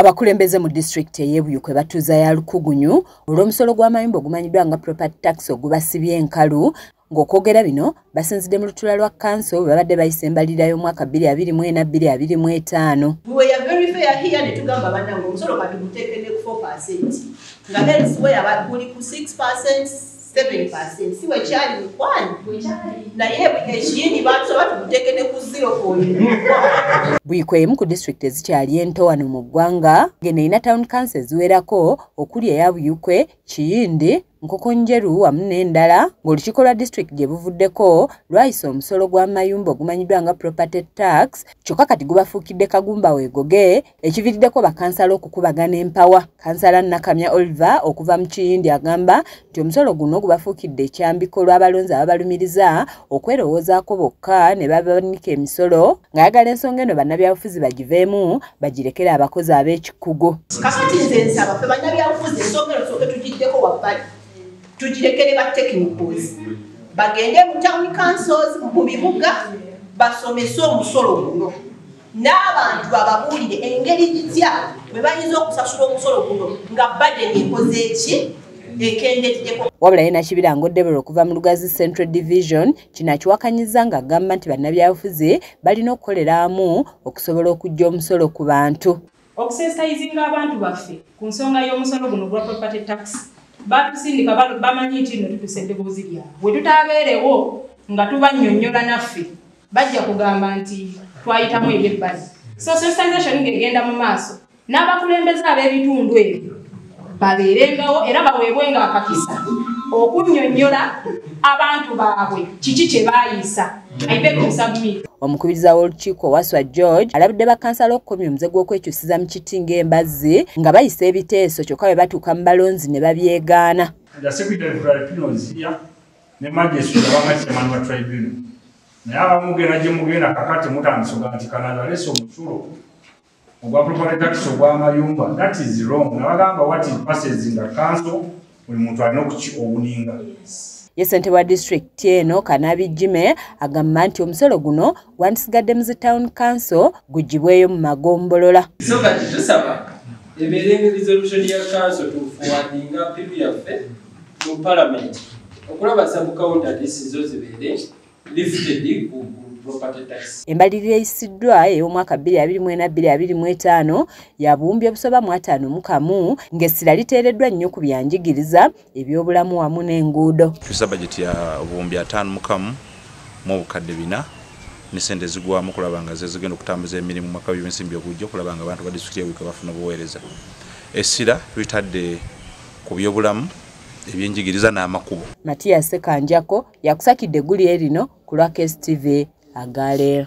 Abakulembeze mu disitulikiti ey'ebuyu kwe batuuza ya lukugunyu olw'omusolo gw'amayumba ogumanyiddwa nga property tax ogubasibye enkalu ng'okwogera bino basinzidde mu lutula lwa kanso bwe babadde bayisa embalirira y'omwaka 22425 si wekyali mukwano naye ekiyindi batusaba tumuteeke ne ku ziro kwoyo buyiko emu ku disitulikiti ezikyali ento wano mu ggwanga ngeno erina town council eziwerako okuli eya buyukwe kiyindi nkokonjeru wamu n'endala ng'olukiiko lwa disitulikiti gye buvuddeko lwayisa omusolo gw'amayumba ogumanyiddwa nga property tax kyokka kati gubafuukidde kagumba weegoge ekiviriddeko bakansala okukubagana empawa kansala nakamya oliver okuva mu kiyindi agamba nti omusolo guno gubafuukidde ekyambiko lw'abalonzi ababalumiriza okwerowoozaako bokka ne babanika emisolo ng'ayagala ensonga eno bannabyabufuzi bagiveemu bagirekere abakozi ab'ekikugu kakati nze nsaba fe bannabyabufuzi ensonga eno soke tugiddeko wabbali tugirekere ba technicals bagende mu town councils mu bibuga basomese omusolo guno n'abantu bababuulire engeri gitya bwe bayinza okusasula omusolo guno nga badeni ekoze eki wabula ye nakibirango debora okuva mu lugazi central division kino akiwakanyiza nga agamba nti bannabyabufuzi balina okukolera amu okusobola okujja omusolo ku bantu Okusensitayizinga abantu baffe ku nsonga y'omusolo guno ogwa property tax batusindika bamanyi nti no tutusa eddoboozi lyabwe bwe tutabeerewo nga tubannyonnyola naffe bajja kugamba nti twayitamu ebyebbali so sensitization ng'egenda mu maaso n'abakulembeze ab'ebitundu ebyo babeerengawo era baweebwenga akakisa okunnyonnyola abantu baabwe kiki kye baayiisa omukubiriza w'olukiiko waswa george alabudde bakansala okukomya omuze gw'okwekyusiza mu kiti ng'embazzi nga bayisa ebiteeso kyokka bwe batuuka mu balonzi ne babyegaana naye abamugenda gye mugenda kakati mutandisa oga nti kanada leesa omusulo ogwa property tax ogwamayumba that is wrong nabagamba what is passes in the council buli muntu alina okuki owuninga ye ssentebe wa disitulikiti eno kanabi jime agamba nti omusolo guno gwandisigadde mu zi town council gugibweyo mu magombolola so kati tusaba ebeerenge resolution ya council tufuwadinga pipu yaffe mu palamenti okulaba sabukawunta disizo zibeere Embalirira eyisiddwa ey'omwaka 2024-2025 yabuwumbi obusoba mu ataano mu kamu ng'essira liteereddwa nnyo ku bya njigiriza, ebyobulamu wamu n'enguudo. Tussa bajeti ya obuwumbi ataano mu kamu mu obukadde bina ne ssente ezigwamu okulaba nga zezigenda okutambuza emirimu mwaka w'ebyensimbi ogujja okulaba nga abantu ba disitulikiti y'e Buikwe bafuna obuweereza. Essira tulitadde ku byobulamu. ebyenjigiriza n'amakubo matiya sekanjako yakusakidde eggulire lino ku lwa kstv agaleero